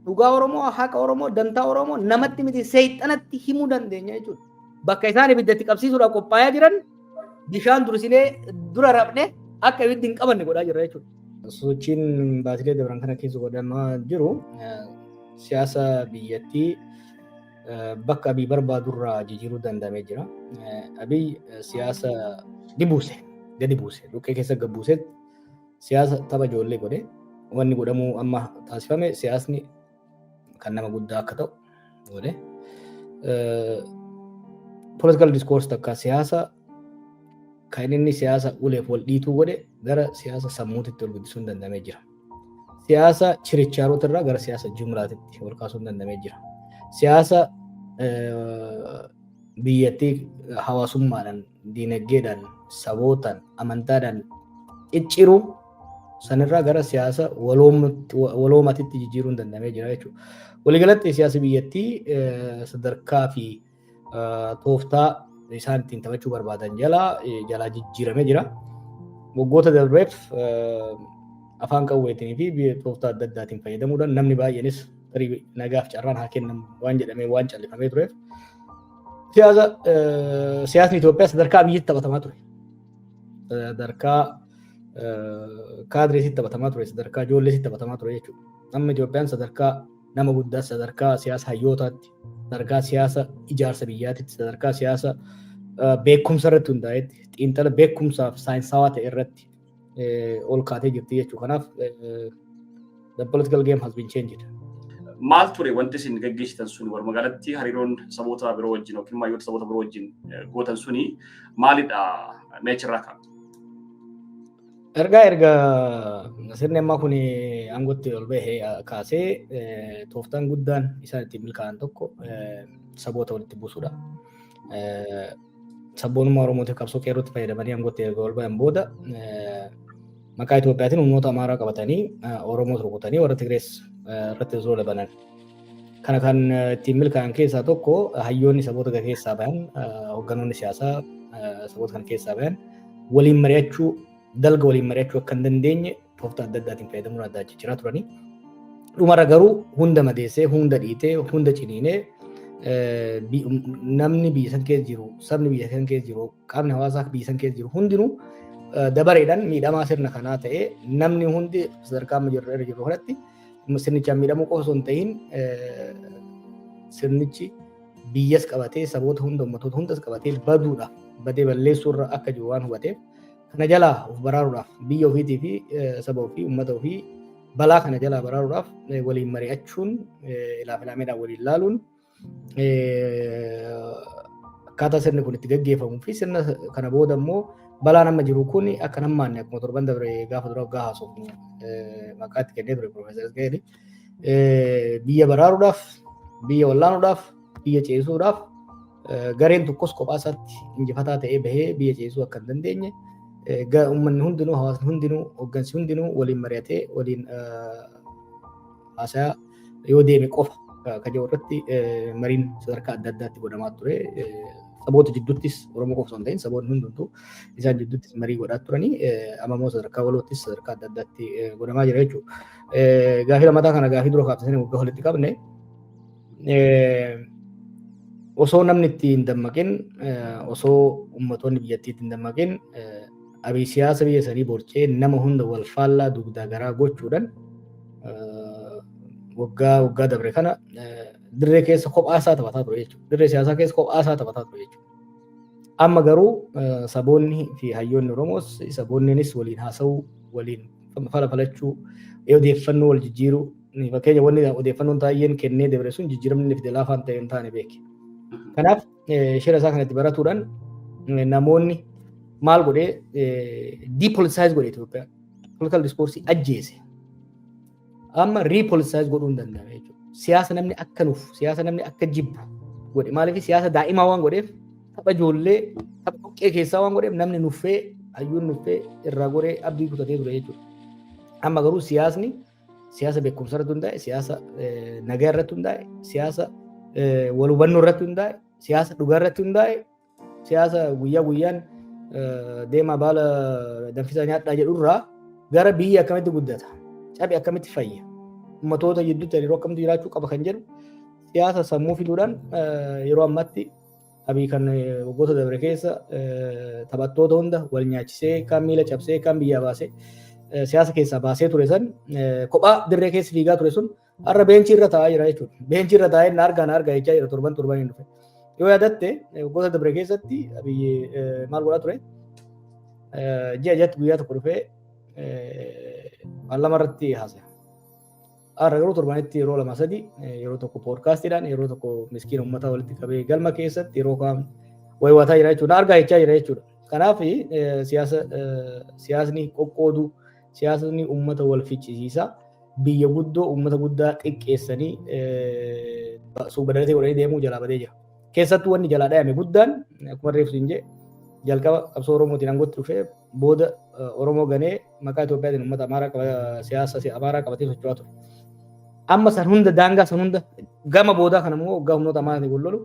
Dhugaa Oromoo, haqa Oromoo, dantaa Oromoo namatti miti seexanatti himuu dandeenya jechuudha. Bakka isaan ibidda itti qabsiisuudhaaf qophaa'aa jiran bishaan dursinee dura rafne akka ibiddi hin qabanne godhaa jirra jechuudha. Sochiin baatilee dabran kana keessa godhamaa jiru siyaasa biyyattii bakka abii barbaadurraa jijjiiruu danda'amee jira. Abii siyaasa ni buuse, gadi buuse, dhukkee keessa gad buusetti Siyaasa tapha ijoollee godhe wanni godhamuu amma taasifame siyaasni kan nama guddaa akka ta'u godhe. Political discourse takka siyaasa kan inni siyaasa uleef wal dhiituu godhe gara siyaasa sammuutitti wal guddisuun dandamee jira. Siyaasa chirichaaroota irraa gara siyaasa jumlaatitti wal kaasuun dandamee jira. Siyaasa biyyattii hawaasummaadhaan diinaggeedhaan, sabootaan, amantaadhaan cicciruu sanirraa gara siyaasa waloomatitti jijjiiruun danda'amee jira jechuudha. Waliigalatti siyaasi biyyattii sadarkaa fi tooftaa isaan ittiin taphachuu barbaadan jala jalaa jijjiiramee jira. Waggoota darbeef afaan qawweetiin fi tooftaa adda addaatiin fayyadamuudhaan namni baay'eenis tarii nagaaf carraan haa kennamu waan jedhamee waan callifamee tureef Siyaasa siyaasni Itoophiyaa sadarkaa biyyitti taphatamaa ture. Sadarkaa kaadireesitti taphatamaa ture, sadarkaa ijoolleesitti taphatamaa ture jechuudha. Amma Itoophiyaan sadarkaa nama guddaa, sadarkaa siyaasa hayyootaatti, sadarkaa siyaasa ijaarsa biyyaatitti, sadarkaa siyaasa beekumsa irratti hundaa'etti, xiinxala beekumsaaf saayinsaawaa ta'e irratti ol kaatee jirti jechuudha. Kanaaf the political game has been changed. Maal ture wanti isin gaggeessitan sun walumaa galatti hariiroon saboota biroo wajjin yookiin maayyoota saboota biroo wajjin gootan suni maalidha meechirraa kan? Ergaa erga sirni ammaa kun aangootti ol bahee kaasee tooftaan guddaan isaan ittiin milkaa'an tokko saboota walitti buusuudha. Sabboonummaa Oromootiif qabsoo qeerrootti fayyadamanii aangootti erga ol ba'an booda maqaa Itoophiyaatiin humnoota Amaaraa qabatanii Oromoos rukutanii warra Tigrees irratti osoo labanan. Kana kan ittiin milkaa'an keessaa tokko hayyoonni saboota kana keessaa bahan hogganoonni siyaasaa saboota kana keessaa bahan waliin mari'achuu dalga waliin mari'achuu akka hin dandeenye tooftaa adda addaatiin fayyadamuun adda jijjiiraa turanii. Dhumarra garuu hunda madeessee, hunda dhiitee, hunda ciniinee namni biyya san keessa jiru, sabni biyya san keessa jiru, qaamni hawaasaa biyya san keessa jiru hundinuu dabareedhaan miidhamaa sirna kanaa ta'ee namni hundi sadarkaa amma jirru irra jirru kanatti sirnichaan miidhamuu qofa osoo hin ta'in sirnichi biyyas qabatee saboota hunda ummatoota hundas qabatee baduudha badee balleessuurra akka jiru waan hubateef kana jalaa of baraaruudhaaf biyya ofiitii fi saba ofii uummata ofii balaa kana jalaa baraaruudhaaf waliin mari'achuun ilaaf ilaameedhaan waliin laaluun akkaataa sirni kun itti gaggeeffamuu fi sirna kana booda immoo balaan amma jiru kun akka nammaanne akkuma torban dabre gaafa dura waggaa haasofnu maqaa itti kennee ture Piroofeesar Isqa'eeli. Biyya baraaruudhaaf, biyya wallaanuudhaaf, biyya ceesisuudhaaf Gareen tokkos kophaa isaatti injifataa ta'ee bahee biyya ceesisuu akka hin dandeenye uummanni hundinuu hawaasni hundinuu hooggansi hundinuu waliin mari'atee waliin haasayaa yoo deeme qofa kan jiru irratti mariin sadarkaa adda addaatti godhamaa ture. Saboota jidduuttis Oromoo qofa osoo hin ta'in saboonni hundumtuu isaan jidduuttis marii godhaa turanii amma immoo sadarkaa waloottis sadarkaa adda addaatti godhamaa jira jechuudha. Gaafii lammataa kana gaafii dura kaafte sana waggaa walitti qabne osoo namni itti hin dammaqin osoo ummatoonni biyyattii itti hin dammaqin abii siyaasa biyya sanii borcee nama hunda wal faallaa dugdaa garaa gochuudhaan waggaa waggaa dabre kana dirree keessa kophaa isaa taphataa ture jechuudha. Dirree siyaasaa keessa kophaa isaa taphataa ture jechuudha. Amma garuu saboonni fi hayyoonni Oromoos saboonniinis waliin haasa'uu waliin fala falachuu odeeffannoo wal jijjiiruu Fakkeenya wanni odeeffannoon taa'een kennee dabre sun jijjiiramni inni fide laafaa ta'e hin taane beeki. Kanaaf shira isaa kanatti baratuudhaan namoonni maal godhee depoliticize godhe Itoophiyaa. Political discourse ajjeese. Amma repoliticize godhuu hin danda'ame jechuudha. Siyaasa namni akka nuuf, siyaasa namni akka jibbu godhe. Maaliif siyaasa daa'imaa waan godheef tapha ijoollee tapha dhoqqee keessaa waan godheef namni nuffee hayyuun nuffee irraa goree abdii kutatee ture jechuudha. Amma garuu siyaasni Siyaasa beekumsa irratti hundaa'e, siyaasa nagaa irratti hundaa'e, siyaasa wal hubannoo irratti hundaa'e, siyaasa dhugaa irratti hundaa'e, siyaasa guyyaa guyyaan deemaa baala danfisaa nyaadhaa jedhu irraa gara biyya akkamitti guddata, cabe akkamitti fayya, ummatoota gidduutti hariiroo akkamitti jiraachuu qaba kan jedhu siyaasa sammuu fiduudhaan yeroo ammaatti Abiy kan waggoota dabre keessa taphattoota hunda wal nyaachisee kaan miila cabsee kaan biyyaa baasee siyaasa keessaa baasee ture san kophaa dirree keessa fiigaa ture sun har'a beenchii irra taa'aa jira jechuudha. Beenchii irra taa'ee na argaa na argaa jechaa jira torban torban hin dhufe. Yoo yaadatte waggoota dabre keessatti Abiy maal godhaa ture? Ji'a jatti guyyaa tokko dhufee paarlaamaa irratti haasa'e. Har'a garuu torbanitti yeroo lama sadi yeroo tokko poodkaastiidhaan yeroo tokko miskiina uummataa walitti qabee galma keessatti yeroo kaan wayiwataa jira jechuudha. Argaa jechaa jira jechuudha. Kanaaf siyaasa siyaasni qoqqoodu siyaasni uummata wal ficcisiisa biyya guddoo uummata guddaa xiqqeessanii suubadalatee godhanii deemuu jalaa badee jira. Keessattuu wanni jalaa dhayame guddaan akkuma reefsi hin jee jalqaba qabsoo Oromootiin aangootti dhufee booda Oromoo ganee maqaa Itoophiyaatiin uummata Amaaraa qaba siyaasa Amaaraa qabatee socho'aa ture. Amma san hunda daangaa san hunda gama boodaa kana immoo waggaa humnoota Amaaraatiin wal lolu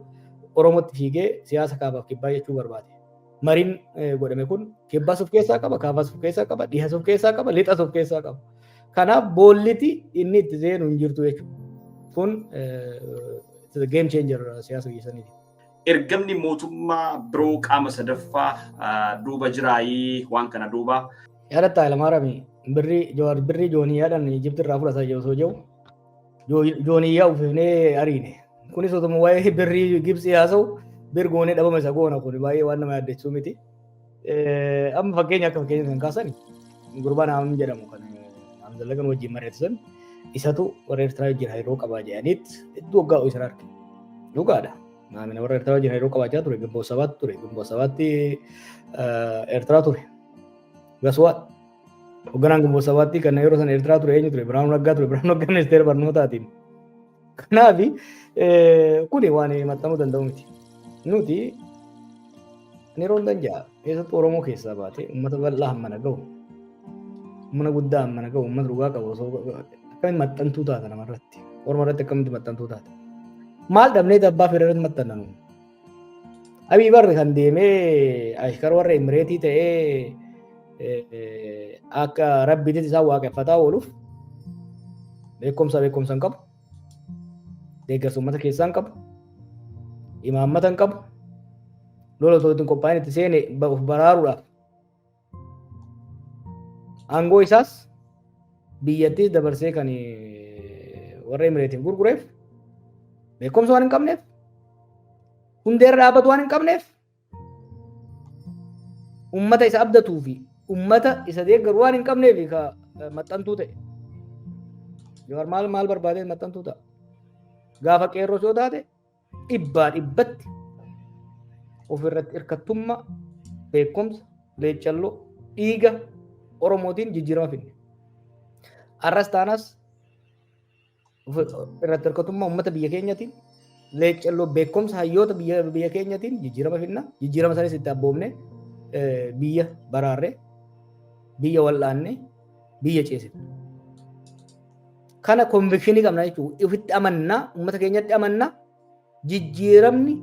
Oromootti fiigee siyaasa kaabaaf kibbaa jechuu barbaade. Mariin godhame kun kibbaas of keessaa qaba, kaabaas of keessaa qaba, dhihaas of keessaa qaba, lixas of keessaa qaba. Kanaaf boolliti inni itti seenu hin jirtu jechuudha. Kun game changer siyaasa biyya saniiti. ergamni mootummaa biroo qaama sadaffaa duuba jiraayii waan kana duuba. Yaadatta Alamaarami birrii Jawaar birrii jooniyaadhaan Ijipti irraa fudhata osoo jiru jooniyyaa uffifnee ariine. Kunis otuma waa'ee birrii Gibsii haasa'u bir goonee dhabama isa goona kun baay'ee waan nama yaaddessuu miti. Amma fakkeenya akka fakkeenya kan kaasan gurbaa naam jedhamu kan Hamzallagan wajjin mari'atan isatu warra Eertiraa wajjin hariiroo qabaa jedhaniit hedduu waggaa isa arge. Dhugaadha. Naamina warra Eertiraa wajjin hariiroo qabaachaa ture gumboo sabaatti ture gumboo sabaatti Eertiraa ture. Gaswaa hogganaan gumboo sabaatti kan yeroo sana Eertiraa ture eenyu ture Biraanuu Naggaa ture Biraanuu Naggaa ministeera barnootaatiin. Kanaaf kuni waan himatamuu danda'u miti. Nuti yeroo hundan ja'a keessattuu Oromoo keessaa baatee uummata bal'aa hammana gahu humna guddaa hammana gahu uummata dhugaa qabu osoo akkamitti maxxantuu taata namarratti orma irratti akkamitti maxxantuu taata maal dhabnee abbaa fedha irratti maxxannanu Abii barri kan deemee ashkar warra Imireetii ta'ee akka rabbiitis isaan waaqeffataa ooluuf beekumsa beekumsa hin qabu. Deeggarsa uummata keessaa hin qabu. Imaammata hin qabu. Lola osoo ittiin qophaa'in itti seene of baraaruudhaaf Aangoo isaas biyyattiis dabarsee kan warra Emireetiin gurgureef beekumsa waan hin qabneef hundeerra dhaabbatu waan hin qabneef ummata isa abdatuu fi ummata isa deeggaru waan hin qabneef ka maxxantuu ta'e. Jawar maal maal barbaadee maxxantuu ta'a. Gaafa qeerroos yoo taate dhibbaa dhibbatti ofirratti hirkattummaa beekumsa leeccalloo dhiiga oromootiin jijjiirama fidne. Har'as taanas irratti hirkatummaa uummata biyya keenyatiin leeccalloo beekumsa hayyoota biyya biyya keenyatiin jijjiirama fidna jijjiirama sanis itti abboomne biyya baraarre biyya wal'aanne biyya ceesifne. Kana konvikshinii qabna jechuudha. Ifitti amanna, uummata keenyatti amanna. Jijjiiramni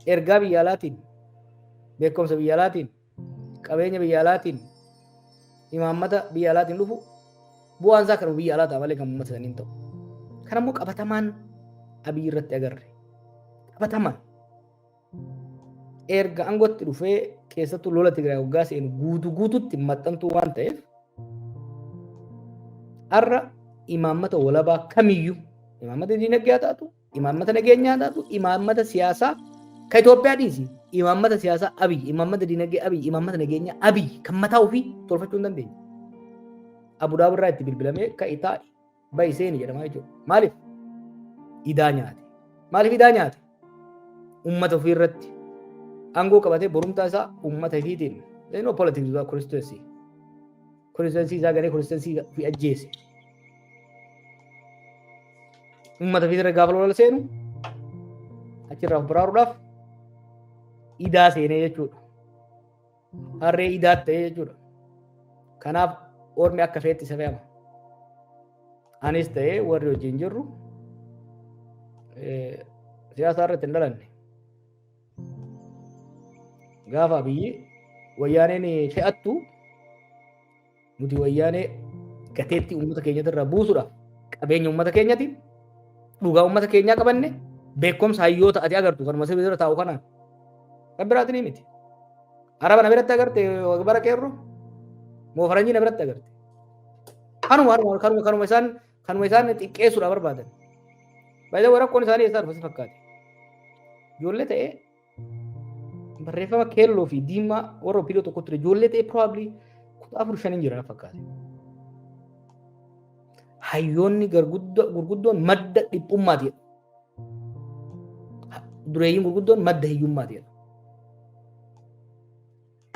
ergaa biyya alaatiin, beekumsa biyya alaatiin, qabeenya biyya alaatiin, imaammata biyya alaatiin dhufu bu'aan isaa kan biyya alaa ta'a malee kan uummata sanii hin ta'u. Kan ammoo qabatamaan abiyyi irratti agarre. Qabatamaan. erga aangootti dhufee keessattuu lola Tigraay waggaa seenu guutu guututti maxxantuu waan ta'eef har'a imaammata walabaa kamiyyuu imaammata dinagdee haa taatu imaammata nageenyaa haa taatu imaammata siyaasaa ka Itoophiyaa dhiisi imaammata siyaasaa abiy imaammata dinagdee abiy imaammata nageenyaa abiy kan mataa ofii tolfachuu hin dandeenye. Abudaabirraa itti bilbilamee ka itaa bahi seeni jedhama jechuudha. Maaliif? Idaa nyaate. Maaliif idaa nyaate? Uummata ofii irratti aangoo qabatee borumtaa isaa uummata ifiitiin no politics without constituency. Constituency isaa garee constituency ofii ajjeese. Uummata ofii irra gaafa lola seenu achirraa of baraaruudhaaf idaa seenee jechuudha. harree idaa ta'e jechuudha. Kanaaf ormi akka feetti isa fe'ama. Anis ta'ee warri wajjin jirru siyaasa irratti hin dhalanne. Gaafa biyyi wayyaaneen fe'attu Nuti wayyaanee gateettii uummata keenyatti irraa buusuudhaaf qabeenya uummata keenyati dhugaa uummata keenyaa qabanne beekumsa hayyoota ati agartu kanuma sirrii irra taa'u kanaan kan biraatiin ni miti. Araba na biratti agarte bara qeerro moo faranjii na biratti agarte. Kanuma haruma kanuma kanuma isaan kanuma isaan xiqqeessuudhaaf barbaadan. Baay'ee rakkoon isaanii eessaa dhufa si fakkaate. Ijoollee ta'ee Barreeffama keelloo fi diimaa warra opiidoo tokko ture ijoollee ta'e probably kudha afur shaniin jiran fakkaate. Hayyoonni gurguddoon madda dhiphummaati jedhu. Dureeyyiin gurguddoon madda hiyyummaati jedhu.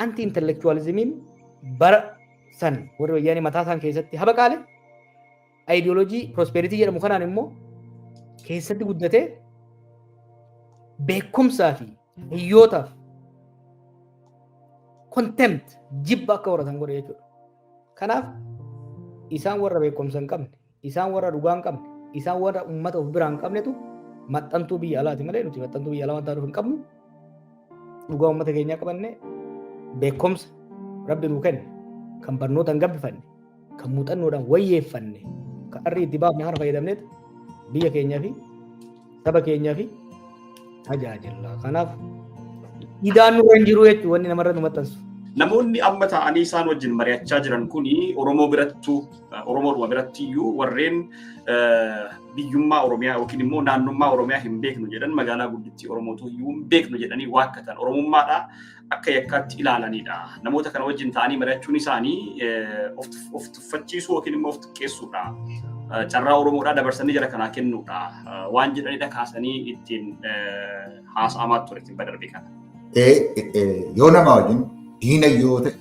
Anti intellectualismiin bara san warri wayyaanee mataa isaan keessatti habaqaale ayidiyoolojii prospeeritii jedhamu kanaan immoo keessatti guddatee beekumsaa fi hiyyootaaf contempt jibba akka horatan godhe jechuudha. Kanaaf isaan warra beekumsa hin qabne Isaan warra dhugaa hin qabne, isaan warra uummata of biraa hin qabnetu maxxantuu biyya alaati malee nuti maxxantuu biyya alaa wanta nuuf hin qabnu dhugaa uummata keenyaa qabanne beekumsa rabbi nuu kenne kan barnootaan gabbifanne kan muuxannoodhaan wayyeeffanne kan arrii itti baafne kana fayyadamneet biyya keenyaa fi saba keenyaa fi tajaajilla. Kanaaf idaan nurra hin jiru jechuun wanni namarra nu maxxansu. Namoonni amma taa'anii isaan wajjin mari'achaa jiran kun Oromoo birattu Oromoodhuma biratti iyyuu warreen biyyummaa Oromiyaa yookiin immoo naannummaa Oromiyaa hin beeknu jedhan magaalaa guddittii Oromootu iyyuu hin beeknu jedhanii waakkatan Oromummaadhaa akka yakkaatti ilaalanidha. Namoota kana wajjin ta'anii mari'achuun isaanii of tuffachiisuu yookiin immoo of xiqqeessuudha. Carraa Oromoodhaa dabarsanii jara kanaa kennuudha. Waan jedhanidha kaasanii ittiin haasa'amaa ture ittiin badarbe kana. Yoo nama wajjin diina yoo ta'e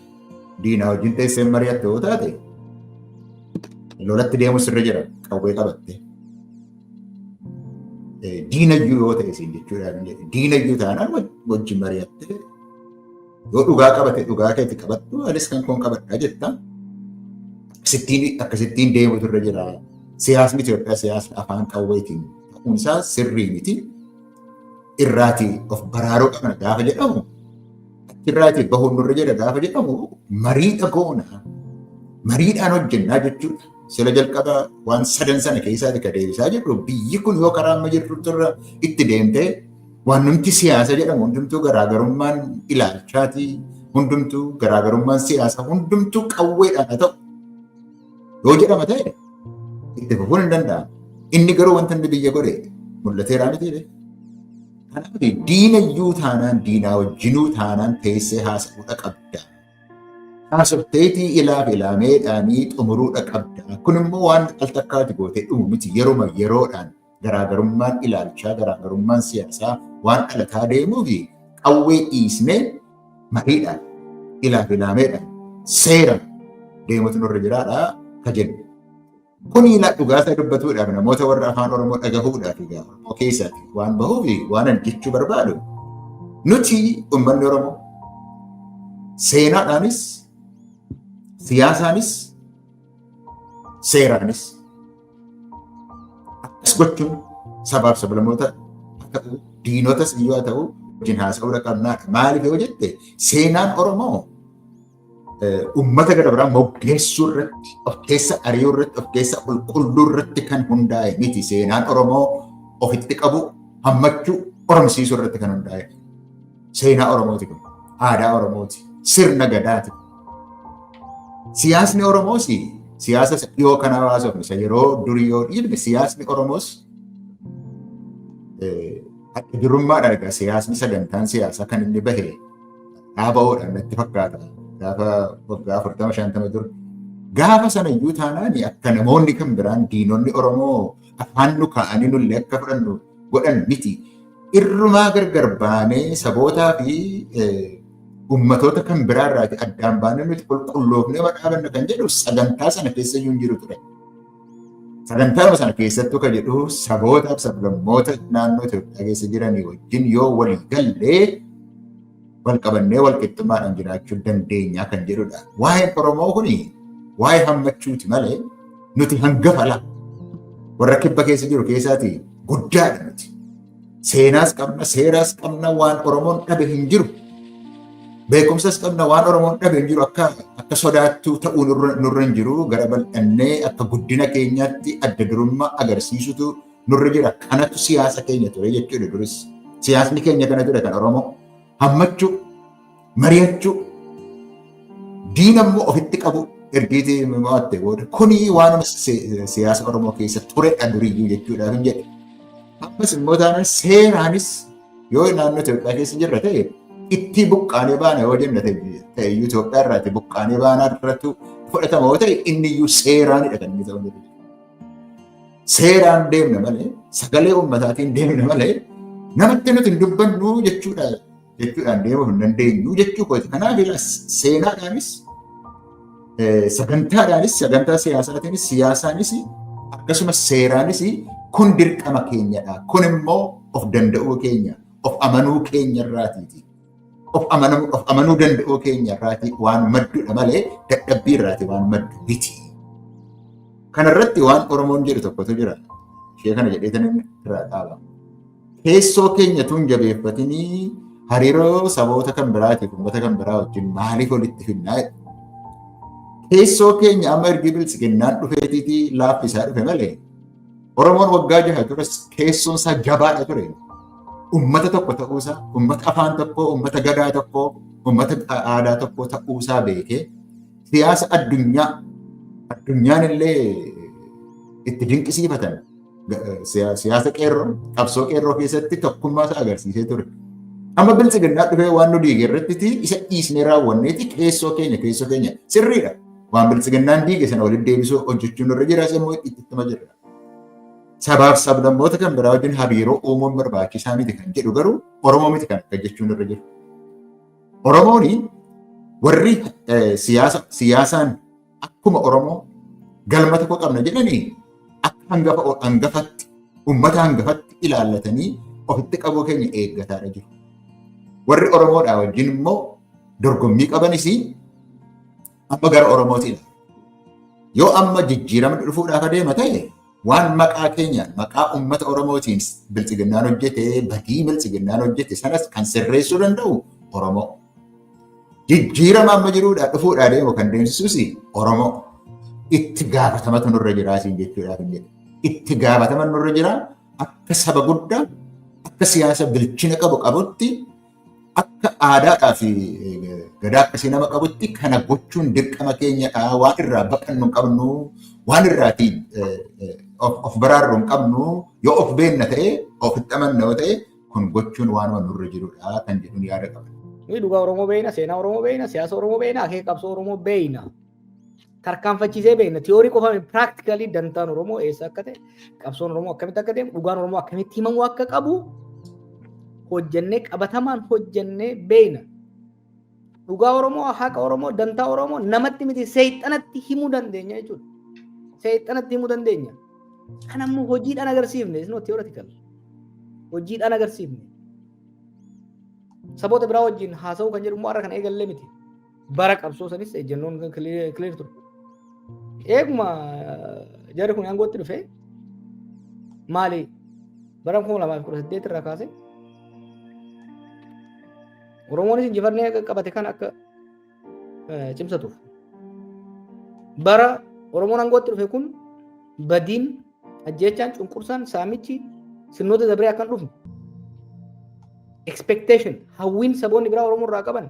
diinaa wajjin teessee mari'atte yoo taate lolatti deemu sirri jira qawwee qabatte. diinayyuu yoo ta'e isin jechuudha. Diinayyuu taanaan wajjin mari'attee yoo dhugaa qabate dhugaa keetti qabattu anis kan koon qabadha jetta. Sittiin akkasittiin deemutu irra jira. Siyaasni Itoophiyaa siyaasni afaan qawweetiin ta'uun isaa sirrii miti. Irraatii of baraaruu qabna gaafa jedhamu Achirraatii bahuun nurra jira gaafa jedhamu mariidha goona. Mariidhaan hojjennaa jechuudha. Sila jalqaba waan sadan sana keessaati ka deebisaa jirru biyyi kun yoo karaa amma jirtutti irra itti deemtee waan nuti siyaasa jedhamu hundumtuu garaagarummaan ilaalchaatii hundumtuu garaagarummaan siyaasa hundumtuu qawweedhaan haa ta'u Yoo jedhama ta'e itti fufuun hin danda'amu. Inni garuu wanta inni biyya godhe mul'ateeraa miti jedhe. Kanaaf diina iyyuu taanaan diinaa wajjinuu taanaan teessee haasa'uudha qabda. Haasofteetii ilaaf ilaameedhaanii xumuruudha qabda. Kun immoo waan al takkaati gootee dhumu miti yeruma yeroodhaan garaagarummaan ilaalchaa garaagarummaan siyaasaa waan dhalataa deemuu fi qawwee dhiisnee mariidhaan ilaaf ilaameedhaan seera deemutu nurra jiraadha ka jennu. Kun ilaa dhugaasaa dubbatuudhaaf namoota warra afaan Oromoo dhagahuudhaaf egaa Oromoo keessatti waan bahuu fi waan ani jechuu barbaadu nuti uummanni Oromoo seenaadhaanis siyaasaanis seeraanis akkas gochuun sabaaf sablamoota akka ta'u diinotas iyyuu haa ta'u wajjin haasa'uudha qabnaa maaliif yoo jette seenaan Oromoo uummata gara biraa moggeessuu irratti of keessa ari'uu irratti of keessa qulqulluu irratti kan hundaa'e miti seenaan Oromoo ofitti qabu hammachuu qoromsiisuu irratti kan hundaa'e Seenaa Oromooti kun. Aadaa Oromooti. Sirna gadaati. Siyaasni Oromoos siyaasa isa dhiyoo kana hawaasofne isa yeroo durii yoo dhiibne siyaasni Oromoos adda durummaadhaan egaa siyaasni sagantaan siyaasaa kan inni bahe dhaaba'uudhaan natti fakkaata. Gaafa waggaa afurtama shantama dura. Gaafa sana iyyuu taanaan akka namoonni kan biraan diinonni Oromoo afaan nu kaa'anii nullee akka fudhannu godhan miti. Irrumaa gargar baanee sabootaa fi ummatoota kan biraa irraati addaan baanee nuti qulqulloofnee madhaabanna kan jedhu sagantaa sana keessa iyyuu hin jiru ture. Sagantaa sana keessattuu kan jedhu sabootaaf sablammoota naannoo Itoophiyaa keessa jiranii wajjin yoo walii gallee wal qabannee wal qixxummaadhaan jiraachuu dandeenya kan jedhudha. Waa'een Oromoo kun waa'ee hammachuuti malee nuti hangafa laa. Warra kibba keessa jiru keessaati guddaadha nuti. Seenaas qabna, seeraas qabna, waan Oromoon dhabe hin jiru. Beekumsas qabna waan Oromoon dhabe hin jiru akka akka sodaattuu ta'uu nurra hin jiru gara bal'annee akka guddina keenyaatti adda durummaa agarsiisutu nurra jira. Kanatu siyaasa keenya ture jechuudha duris. Siyaasni keenya kana ture kan Oromoo. Hammachuu, mari'achuu, diina immoo ofitti qabu ergiiti mo'atte booda. Kuni waanuma siyaasa Oromoo keessa turedha duriyyuu jechuudhaaf hin jedhe. Ammas immoo taanaan seeraanis yoo naannoo Itoophiyaa keessa jirra ta'e itti buqqaanee baana yoo jenna ta'e iyyuu Itoophiyaa irraa itti buqqaanee baanaa irratti fudhatama yoo ta'e inni iyyuu seeraanidha kan inni ta'u. Seeraan deemna malee sagalee ummataatiin deemna malee namatti nuti hin dubbannu jechuudha jechuudhaan deemuu hin dandeenyu jechuu kooti. Kanaaf seenaadhaanis sagantaadhaanis sagantaa siyaasaatiinis siyaasaanis akkasumas seeraanis kun dirqama keenyadha. Kun immoo of danda'uu keenya of amanuu keenya irraatiiti. of amanamuu of amanuu danda'uu keenya irraati waan maddudha malee dadhabbii irraati waan maddu miti. Kanarratti waan Oromoon jedhu tokkotu jira. Ishee kana jedhee tan irraa dhaaba. Keessoo keenya tun jabeeffatinii hariiroo saboota kan biraatiif uummata kan biraa wajjin maaliif walitti finnaa jedhu. Keessoo keenya amma ergi biltsiginnaan dhufeetiitii laaffisaa dhufe malee Oromoon waggaa jaha tures keessoon isaa jabaadha ture. Uummata tokko ta'uusaa, uummata afaan tokkoo, uummata gadaa tokkoo, uummata aadaa tokkoo ta'uusaa beekee siyaasa addunyaa addunyaan illee itti dinqisiifatan siyaasa qeerroo qabsoo qeerroo keessatti tokkummaa isaa agarsiisee ture. Amma biltsiginnaa dhufee waan nu diige irratti isa dhiisnee raawwanneeti keessoo keenya keessoo keenya sirriidha. Waan biltsiginnaan diige sana walitti deebisuu hojjechuun irra jira isa immoo itti ittuma jirra. Sabaaf sablammoota kan biraa wajjin hariiroo uumuun barbaachisaa miti kan jedhu garuu Oromoo miti kan akka jechuun irra jira. Oromooni warri siyaasaan akkuma Oromoo galma tokko qabna jedhanii akka hangafa hangafatti uummata hangafatti ilaallatanii ofitti qabuu keenya eeggataadha jiru. Warri Oromoodhaa wajjin immoo dorgommii qabanis Amma gara Oromootiin yoo amma jijjiiramni dhufuudhaaf adeema ta'e waan maqaa keenyaan maqaa uummata Oromootiin bilxiginnaan hojjete badii bilxiginnaan hojjete sanas kan sirreessuu danda'u Oromoo. Jijjiirama amma jiruudhaa dhufuudhaa adeemu kan deemsisuus Oromoo. Itti gaafatamatu nurra jiraa siin jechuudhaaf hin jedhu. Itti gaafatama nurra jiraa akka saba guddaa akka siyaasa bilchina qabu qabutti Akka aadaadhaa fi gadaa akkasii nama qabutti kana gochuun dirqama keenya ta'a. Waan irraa baqannu hin qabnu, waan irraatii of baraarru hin qabnu. Yoo of beenna ta'e, of itti amanna yoo ta'e, kun gochuun waanuma nurra jirudha kan jedhuun yaada qaba. Nuyi dhugaa Oromoo beeyna, seenaa Oromoo beeyna, siyaasa Oromoo beeyna, akeeka qabsoo Oromoo beeyna. tarkaanfachiisee beekna. Tiyoorii qofa piraaktikalii dantaan Oromoo eessa akka ta'e, qabsoon Oromoo akkamitti akka deemu, dhugaan Oromoo akkamitti himamuu akka qabu hojjennee qabatamaan hojjennee beekna. Dhugaa Oromoo, haqa Oromoo, dantaa Oromoo namatti miti seexanatti himuu dandeenya jechuudha. Seexanatti himuu dandeenya. Kan ammoo hojiidhaan agarsiifne, isnoo tiyooraatikal. Hojiidhaan agarsiifne. Saboota biraa wajjin haasa'uu kan jedhu immoo har'a kan eegalle miti. Bara qabsoo sanis ejjennoon kan clear ture. Eeguma jarri kun aangootti dhufe maali bara 2018 irraa kaase Oromoonis injifannee qabate kan akka cimsatuuf. Bara Oromoon aangootti dhufe kun badiin ajjeechaan cunqursaan saamichi sirnoota dabree akkan dhufne expectation hawwiin saboonni biraa Oromoo irraa qaban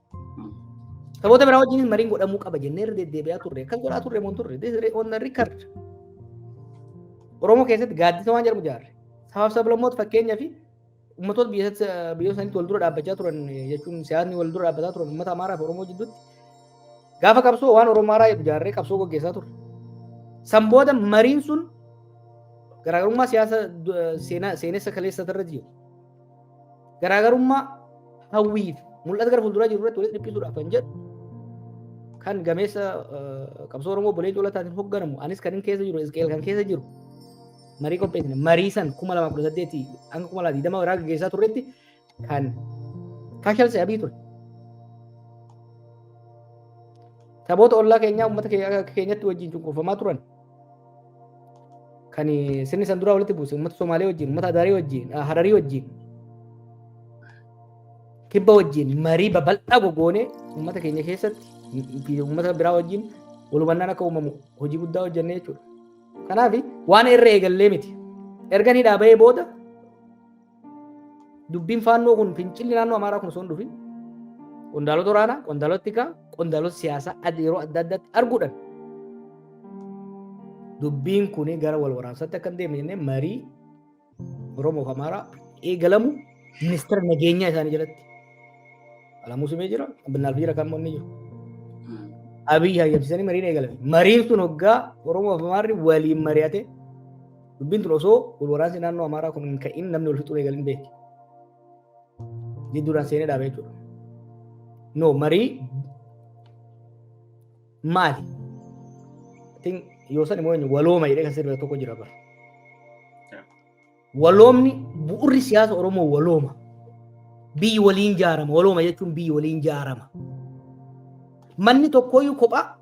Saboota biraa wajjin mariin godhamuu qaba jennee irra deddeebi'aa turre. Akkas godhaa turre moo turre. This is on the record. Oromoo keessatti gaaddisa waan jedhamu ijaarre. Sabaaf sablammoota fakkeenyaa fi ummatoota biyyoota sanitti wal dura dhaabbachaa turan jechuun siyaasni wal dura dhaabbataa turan ummata Amaaraa fi Oromoo jidduutti gaafa qabsoo waan Oromoo Amaaraa jedhu ijaarree qabsoo gaggeessaa turre. San booda mariin sun garaagarummaa siyaasa seenessa kaleessa irratti jiru. garaagarummaa hawwiif mul'ata gara fuulduraa jiru irratti walitti dhiphisuudhaaf kan jedhu kan gameessa qabsoo Oromoo Obbo Leencoo Lataatiin hoogganamu anis kan keessa jiru Isqeel kan keessa jiru marii qopheessine marii san kuma lama kudha saddeetii hanga kuma lama digdama irraa gaggeessaa turretti kan kashalse abii ture. Saboota ollaa keenyaa uummata keenyatti wajjin cunqurfamaa turan kan sirni san duraa walitti buuse uummata Somaalee wajjin, uummata Adaarii wajjin, ah, Hararii wajjin, kibba wajjin marii babal'aa gogoonee uummata keenya keessatti fi uummata biraa wajjin wal hubannaan akka uumamu hojii guddaa hojjennee jechuudha. Kanaaf waan irra eegallee miti. Erga ni dhaabee booda Dubbiin faannoo kun fincilli naannoo Amaaraa kun osoo hin dhufin qondaalota waraanaa, qondaalota tikaa, qondaalota siyaasaa adda yeroo adda addaatti arguudhaan dubbiin kun gara wal waraansaatti akka hin deemne jennee marii Oromoo fi Amaaraa eegalamu ministeera nageenyaa isaanii jalatti Alamuu Simee jira, Abbinnaal Fiira kan inni jiru. Abiyyi hayyamsiisanii mariin eegalame. Mariin sun hoggaa Oromoo fi Amaarri waliin mari'ate Dubbiin tun osoo wal waraansi naannoo Amaaraa kun hin ka'in namni wal fixuu eegalin beekti. Jidduudhaan seenee dhaaba jechuudha. No marii maali? Tin yoo san immoo walooma jedhee kan sirba tokko jira bara. Waloomni bu'urri siyaasa Oromoo walooma. Biyyi waliin jaarama. Walooma jechuun biyyi waliin jaarama. Manni tokkooyyuu kophaa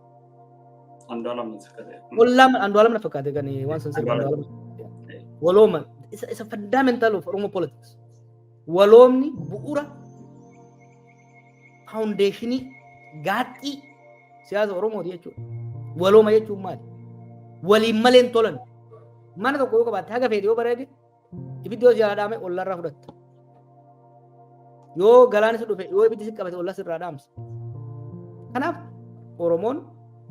Andu'aalam natti fakkaate. Wallaam Andu'aalam na fakkaate kan waan san sirba Andu'aalam. Andu'aalam. Walooma isa isa fundamental of Oromo politics. Waloomni bu'uura foundationii gaaxxii siyaasa Oromooti jechuudha. Walooma jechuun maali? Waliin malee hin tolan. Mana tokko yoo qabaatte haga feete yoo bareede Ibiddi yoo jalaa dhaame ollarraa fudhatta. Yoo galaan si dhufe yoo ibiddi si qabate ollas irraa dhaamsa. Kanaaf Oromoon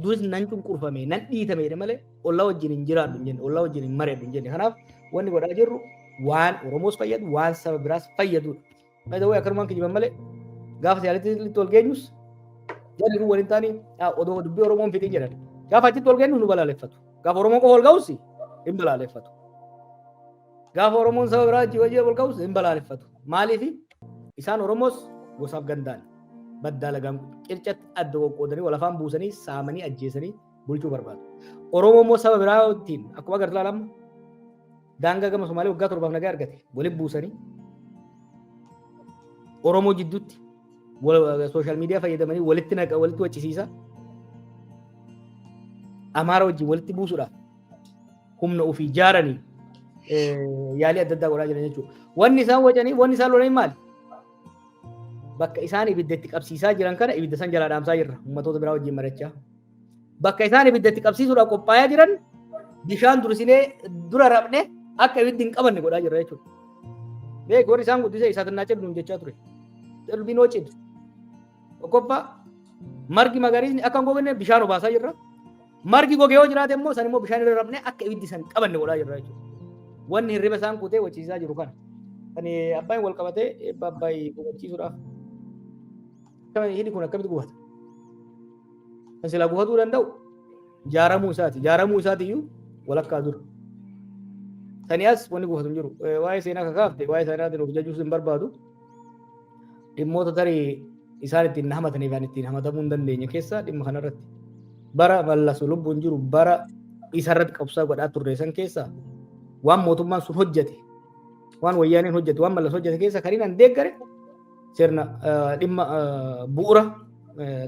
duris nan cunqurfame nan dhiitame jedhe malee ollaa wajjin hin jiraadhu hin jenne ollaa wajjin hin mareedhu hin jenne. Kanaaf wanni godhaa jirru waan Oromoos fayyadu waan saba biraas fayyadudha. By the way akkanumaan kijiban malee gaafa siyaasatti wal geenyus jarri kun waliin taanii odoo dubbii Oromoon fixii jedhan. Gaafa achitti wal geenyu nu balaaleffatu. Gaafa Oromoon qofa wal ga'us hin balaaleffatu. Gaafa Oromoon saba biraa achi wajjin wal ga'us hin balaaleffatu. Maaliif isaan Oromoos gosaaf gandaan baddaa lagaan qircatti adda qoqqoodanii wal afaan buusanii saamanii ajjeesanii bulchuu barbaadu. Oromoo immoo saba biraa wajjin akkuma agartu ilaalamu Daangaa gama Somaalee waggaa torbaaf nagaa argate waliin buusanii Oromoo jidduutti sooshaal miidiyaa fayyadamanii walitti naqa walitti wachisiisa. Amaara wajjin walitti buusuudhaaf humna ofii ijaaranii yaalii adda addaa godhaa jiran jechuudha. Wanni isaan wacanii wanni isaan lolanii maali? Bakka isaan ibidda itti qabsiisaa jiran kana ibidda san jalaa dhaamsaa jirra. Uummatoota biraa wajjin marachaa. Bakka isaan ibidda itti qabsiisuudhaaf qophaa'aa jiran bishaan dursinee dura rafne akka ibiddi hin qabanne godhaa jirra jechuudha. Beeku warri isaan guddisee isaa xinnaa cid nuun jechaa ture. Cilbinoo cid. Tokkoffaa margi magariisni akka hin gogne bishaan obaasaa jirra. Margi goge yoo jiraate immoo san immoo bishaan irra rafne akka ibiddi san qabanne godhaa jirra jechuudha. Wanni hirriba isaan kutee wachiisaa jiru kana. Kan abbaan wal qabatee eebba abbaayii hubachiisuudhaaf. Hidhi kun akkamitti gubata? Kan silaa gufatuu danda'u jaaramuu isaati. Jaaramuu isaati iyyuu walakkaa dura. Sani as wanni gufatu hin jiru. Eh, Waa'ee seenaa kakaafte waa'ee seenaatiin of jajuus hin barbaadu. Dhimmoota tarii isaan ittiin na hamataniif ani ittiin hamatamuu hin dandeenye keessaa dhimma kanarratti. Bara mallasu lubbuun jiru bara isarratti qabsaa godhaa turre san keessaa waan mootummaan sun hojjete waan wayyaaneen hojjete waan mallas hojjete keessaa kan inni deeggare sirna dhimma bu'ura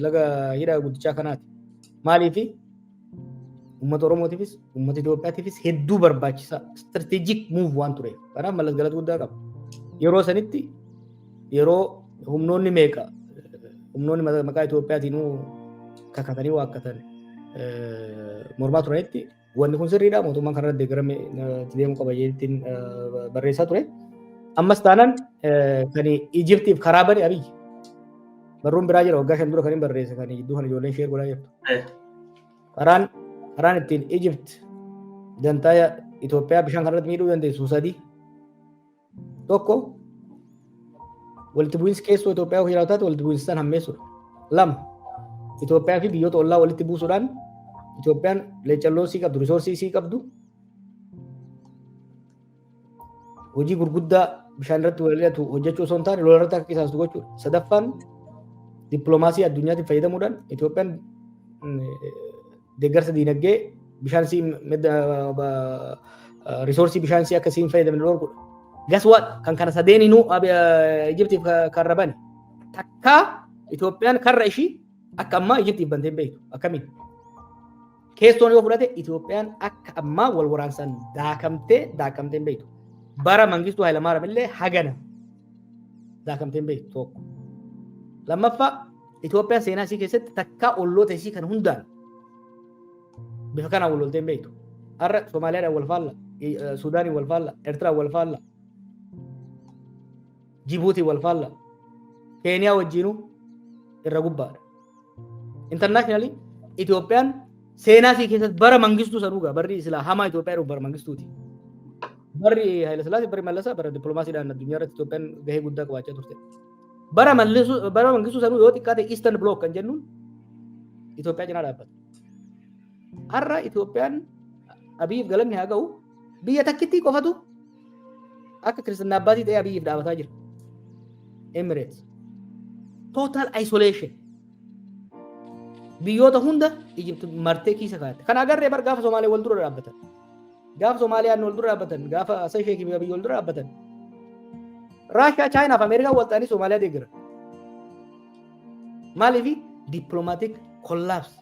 laga hidha guddichaa kanaati. Maaliifi uummata Oromootiifis uummata Itoophiyaatiifis hedduu barbaachisaa strategic move waan tureef kanaaf mallas galata guddaa qaba. Yeroo sanitti yeroo humnoonni meeqa humnoonni maqaa Itoophiyaatiin kakatanii waakkatan mormaa turanitti Wanni kun sirriidha mootummaan kanarratti deeggarame itti deemuu qaba jedheetiin barreessaa ture. Ammas taanaan kan Ijiptiif karaa bane Abiyyi. Barruun biraa jira waggaa shan dura kan hin barreesse kan gidduu kan ijoolleen sheer godhaa jirtu. Karaan karaan ittiin Ijipt dantaa Itoophiyaa bishaan kanarratti miidhuu dandeessu sadii. Tokko walitti bu'iinsi keessoo Itoophiyaa yoo jiraatu taate walitti bu'iinsi san hammeessuudha. Lama Itoophiyaa fi biyyoota ollaa walitti buusuudhaan Itoophiyaan leecalloo isii qabdu, risoorsii isii qabdu hojii gurguddaa bishaan irratti walilatu hojjechuu osoo hin taane lola irratti akka qisaastu gochuudha. Sadaffaan dippiloomaasii addunyaatti fayyadamuudhaan Itoophiyaan deeggarsa diinagdee bishaan sii madda risoorsii bishaan sii akka siin fayyadamne dhorkudha. Gas what kan kana sadeeninuu Ijiptiif kan rabani. Takkaa Itoophiyaan karra ishii akka ammaa Ijiptiif bantee hin beektu. Akkamiin? Keessoon yoo fudhate Itoophiyaan akka ammaa wal waraansaan daakamtee daakamtee hin beektu. Bara Mangistuu Hayilamaariyaam illee hagana daakamtee hin beektu tokko. Lammaffaa Itoophiyaan seenaa isii keessatti takkaa olloota isii kan hundaan bifa kanaan wal loltee hin beektu. Har'a Somaaliyaadhaan wal faalla, Suudaaniin wal faalla, Eertiraan wal faalla, Jibuutiin wal faalla, Keeniyaa wajjiinuu irra gubbaadha. Intarnaashinaali Itoophiyaan seenaa isii keessatti bara mangistuu sanuu gaa barri silaa hamaa Itoophiyaa dhufu bara mangistuuti. Barri Haayilasillaasee barri Mallasaa bara dippiloomaasiidhaan addunyaa irratti Itoophiyaan gahee guddaa qabaachaa turte. Bara mallisuu bara mangisuu sanuu yoo xiqqaate Eastern Block kan jennuun Itoophiyaa cinaa dhaabbata. Har'a Itoophiyaan Abiyiif galanni haa ga'u biyya takkittii qofatu akka kiristinnaa abbaatii ta'ee Abiyiif dhaabataa jira. Emirates. Total isolation. Biyyoota hunda Egypt martee keessa kaa'atte. Kan agarree bar gaafa Somaalee wal dura dhaabbatan. Gaafa Soomaaliyaan wal dura dhaabbatan, gaafa Hassan Sheikh fi Abiy wal dura dhaabbatan. Raashiyaa, Chaayinaa fi Ameerikaan wal ta'anii Soomaaliyaa deeggara. Maaliif dippiloomaatiik kollaabs.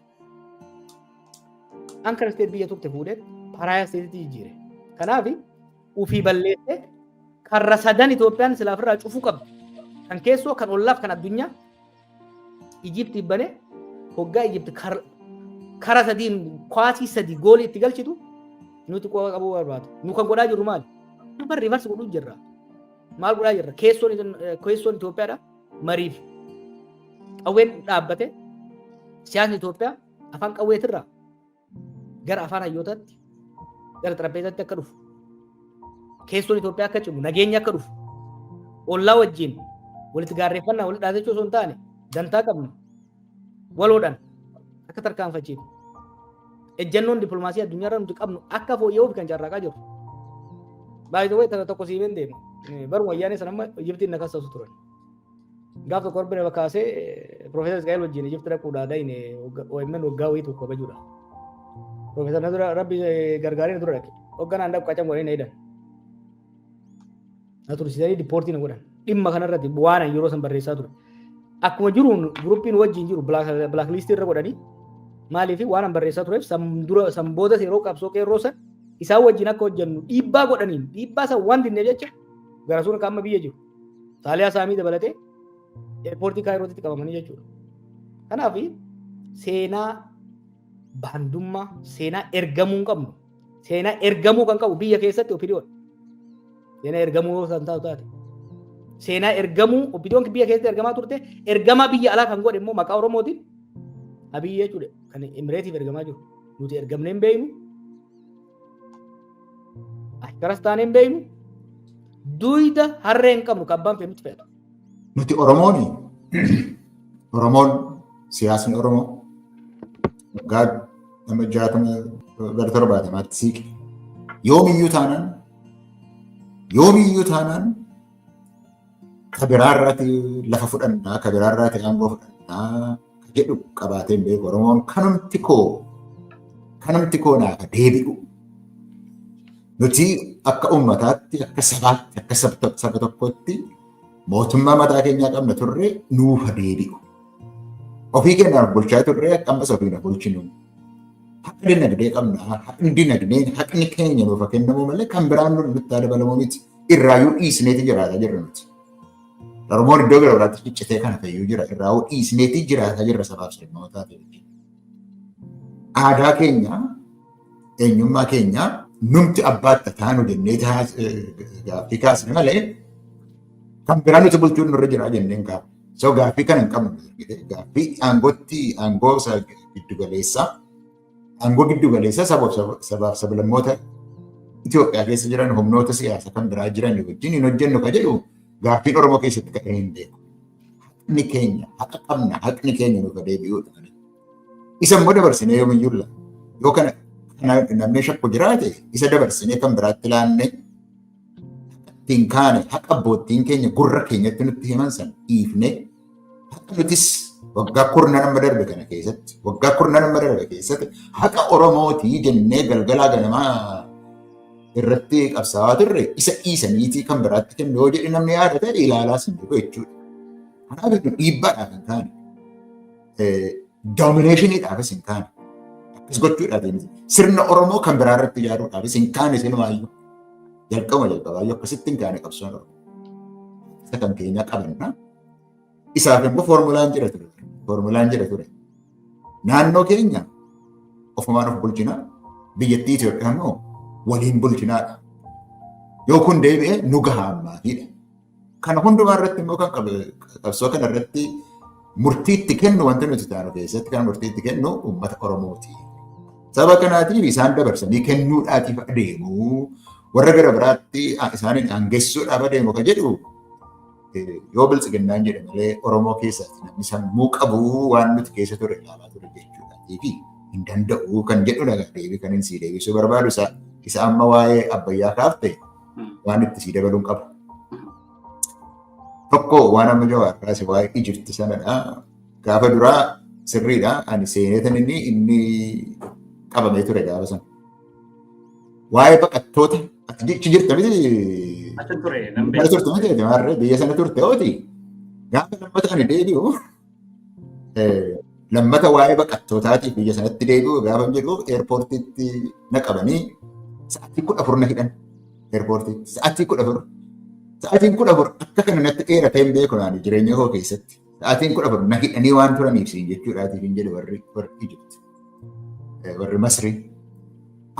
Ankara isteet biyya turte fuudhee paraayaa isteetitti jijjiire. Kanaaf ofii balleessee karra sadan Itoophiyaan silaaf irraa cufuu qabdi. Kan keessoo, kan ollaaf, kan addunyaa Ijipt bane hoggaa Ijipt kara sadiin kwaasii sadii goolii itti galchitu nuti qooqa qabuu barbaadu. Nu kan godhaa jirru maali? Nu bar rivarsi godhuu jirra. Maal godhaa jirra? Keessoon keessoon Itoophiyaadha mariif qawween dhaabbate siyaasni Itoophiyaa afaan qawweetirraa gara afaan hayyootaatti gara xarapheezaatti akka dhufu keessoon Itoophiyaa akka cimu nageenyi akka dhufu ollaa wajjin walitti gaarreeffannaa walitti dhaadachuu osoo hin taane dantaa qabnu waloodhaan akka tarkaanfachiifnu ejjannoon dippilmaasii addunyaa irra nuti qabnu akka fooyya'uuf kan carraaqaa jiru. Baay'ee tokko siimeen deemu baruma ayyaanee sana amma Ijibtiin na kassaasu turan. Gaaf tokko Rabbi nama kaasee Profeesar Isqaa'el wajjin Ijipti dhaquudhaa gahine OMN waggaa wayii tokko kabajuudha. Profeesar na dura Rabbi gargaaree na dura dhaqe. Hogganaan dhaqu qacan godhanii na hidhan. Na tursiisanii dippoortii na godhan. Dhimma kanarratti waan ani yeroo san barreessaa ture. Akkuma jiruun guruppiin wajjin jiru bilaakliistii irra godhanii maaliif waan ani barreessaa tureef san dura san boodas yeroo qabsoo qeerroo san isaan wajjin akka hojjennu dhiibbaa godhaniin dhiibbaa san waan dinneef jecha garasuun akka amma biyya jiru. Saaliyaa Saamii dabalatee eerpoortii Kaayirootitti qabamanii jechuudha. Kanaaf seenaa baandummaa seenaa ergamuu hin qabnu. Seenaa ergamuu kan qabu biyya keessatti opidiyoon. Seenaa ergamuu yoo san taatu taate. Seenaa ergamuu opidiyoon biyya keessatti ergamaa turte ergamaa biyya alaa kan godhe immoo maqaa Oromootiin Abiyyi jechuudha. Kan Emireetiif ergamaa jiru. Nuti ergamnee hin beeknu. Akkanas taanee hin beeknu duuyda harree hin qabnu kan abbaan fe'e nutti fe'atu. Nuti Oromoon Oromoon siyaasni Oromoo waggaa nama jaatama gara torbaatamaatti siiqe. Yoomiyyuu taanaan yoomiyyuu taanaan ka biraa irraati lafa fudhannaa, ka biraa irraati aangoo fudhannaa ka jedhu qabaatee hin beeku. Oromoon kanumti koo kanumti koo naaf deebi'u. Nuti akka uummataatti, akka sabaatti, akka saba tokkootti mootummaa mataa keenyaa qabna turre nuuf deebi'u. Ofii keenyaaf bulchaa turre ammas ofiin bulchinu. Haqa dinagdee qabna. Haqni dinagdee haqni keenya nuuf kennamu malee kan biraan nutti dabalamu miti. irraayyuu dhiisneeti jiraata jirra nuti. Oromoon iddoo gara biraatti ciccitee kana fayyuu jira irraayuu dhiisneeti jiraata jirra sabaaf sablammootaa ta'e. Aadaa keenya eenyummaa keenya numti abbaatti taanu jennee gaaffii kaasne malee kan biraa nuti bulchuun nurra jira jenneen kaafne. So gaaffii kana hin qabnu. Gaaffii aangootti aangoo isa giddu galeessaa Aangoo giddu galeessaa sabaaf sablammoota Itoophiyaa keessa jiran humnoota siyaasa kan biraa jiran wajjin hin hojjennu ka jedhu gaaffiin Oromoo keessatti ka'ee hin beeku. Haqni keenya haqa qabna haqni keenya nuuf deebi'uudha. Isa immoo dabarsinee yoomiyyuu laata. Yoo kana namni shakku jiraate isa dabarsinee kan biraatti laannee ittiin kaane haqa abboottiin keenya gurra keenyatti nutti himan san dhiifnee Akkamitis waggaa kurna nama darbe kana keessatti waggaa kurna nama darbe keessatti haqa Oromootii jennee galgalaa ganamaa irratti qabsaawaa turre isa dhiisaniitii kan biraatti kennu yoo jedhe namni yaada ta'e ilaalaa sin jiru jechuudha. Kanaaf iyyuu dhiibbaadhaaf hin taane doomineeshiniidhaafis hin taane akkas gochuudhaaf hin sirna Oromoo kan biraa irratti ijaaruudhaafis hin taane silumaa iyyuu jalqabuma jalqabaa iyyuu akkasitti hin taane qabsoon Oromoo. isa kan keenyaa qabanna. Isaaf immoo foormulaan jira ture. Foormulaan jira ture. Naannoo keenya ofumaan of bulchina. Biyyattii Itoophiyaa immoo waliin bulchinaadha. Yoo kun deebi'e nu gahaa ammaatiidha. Kana hundumaa irratti immoo kan qabsoo kana irratti murtiitti kennu wanti nuti taanu keessatti kan murtiitti kennu uummata Oromooti. Saba kanaatiif isaan dabarsanii kennuudhaatiif adeemu warra gara biraatti isaaniin aangessuudhaaf adeemu kan jedhu yoo biltsiginnaan jedhe malee Oromoo keessatti namni sammuu qabu waan nuti keessa ture ilaalaa ture jechuudha. Deebii hin danda'u kan jedhudha deebii kan inni sii deebisuu barbaadu isa amma waa'ee abbayyaa kaafte waan itti sii dabaluun qabu. Tokko waan amma jawaar kaase waa'ee Ijipti sanadha. Gaafa duraa sirriidha. Ani seeneetan inni inni qabamee ture gaafa sana. Waa'ee baqattoota achi jirta miti. Achi ture. Mana turte miti jawaarree biyya sana turte ooti. Gaafa lammata ani deebi'u. Lammata waa'ee baqattootaatiif biyya sanatti deebi'u gaafa jedhu eerpoortiitti na qabanii sa'aatii kudha afur na hidhan. Eerpoortiitti sa'aatii kudha afur. Sa'aatiin kudha afur akka kana natti dheeratee hin beeku naani jireenya koo keessatti. Sa'aatiin kudha afur na hidhanii waan turaniif siin jechuudhaatiif hin jedhu warri warri Ijipti. Warri Masrii.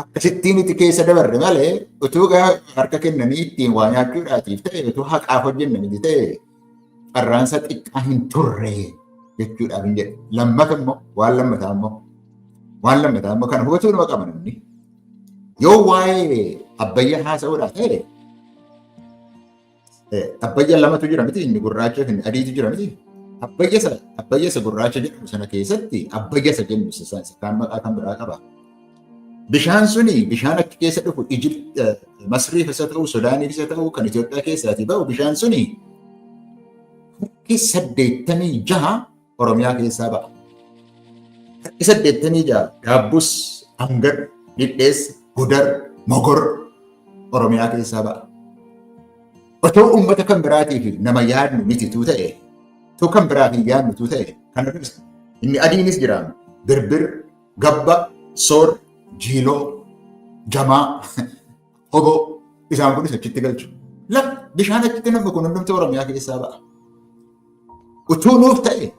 Akkasittiin itti keessa dabarre malee utuu harka kennanii ittiin waa nyaachuudhaatiif ta'e utuu haqaaf hojjenne miti ta'e carraansa xiqqaa hin turre jechuudhaaf hin jedhu. Lammata immoo waan lammataa immoo waan lammataa immoo kana hubachuu nama qaba namni. Yoo waa'ee abbayyaa haasa'uudhaa ta'e abbayyaa lamatu jira miti inni gurraacha fi adiitu jira miti. Abbayyasa abbayyasa gurraacha jedhamu sana keessatti abbayyasa jennu isa kaan maqaa kan biraa qaba. Bishaan suni bishaan achi keessa dhufu Masriif isa ta'u Sudaaniif isa ta'u kan Itoophiyaa keessaatii ba'u bishaan suni harki saddeettamii jaha Oromiyaa keessaa ba'a. Harki saddeettamii jaha Gaabbus, Angar, Dhidheessa, Gudar, Mogor Oromiyaa keessaa ba'a. Otoo uummata kan biraatiif nama yaadnu mitituu ta'e, otoo kan biraaf hin yaadnutuu ta'e, kan inni adiinis jiraama. Birbir, Gabba, Soor, Jiiloo, Jamaa, Hoboo isaan kunis achitti galchu. Lafa bishaan achitti namni kun hundumti Oromiyaa keessaa ba'a. Utuu nuuf ta'e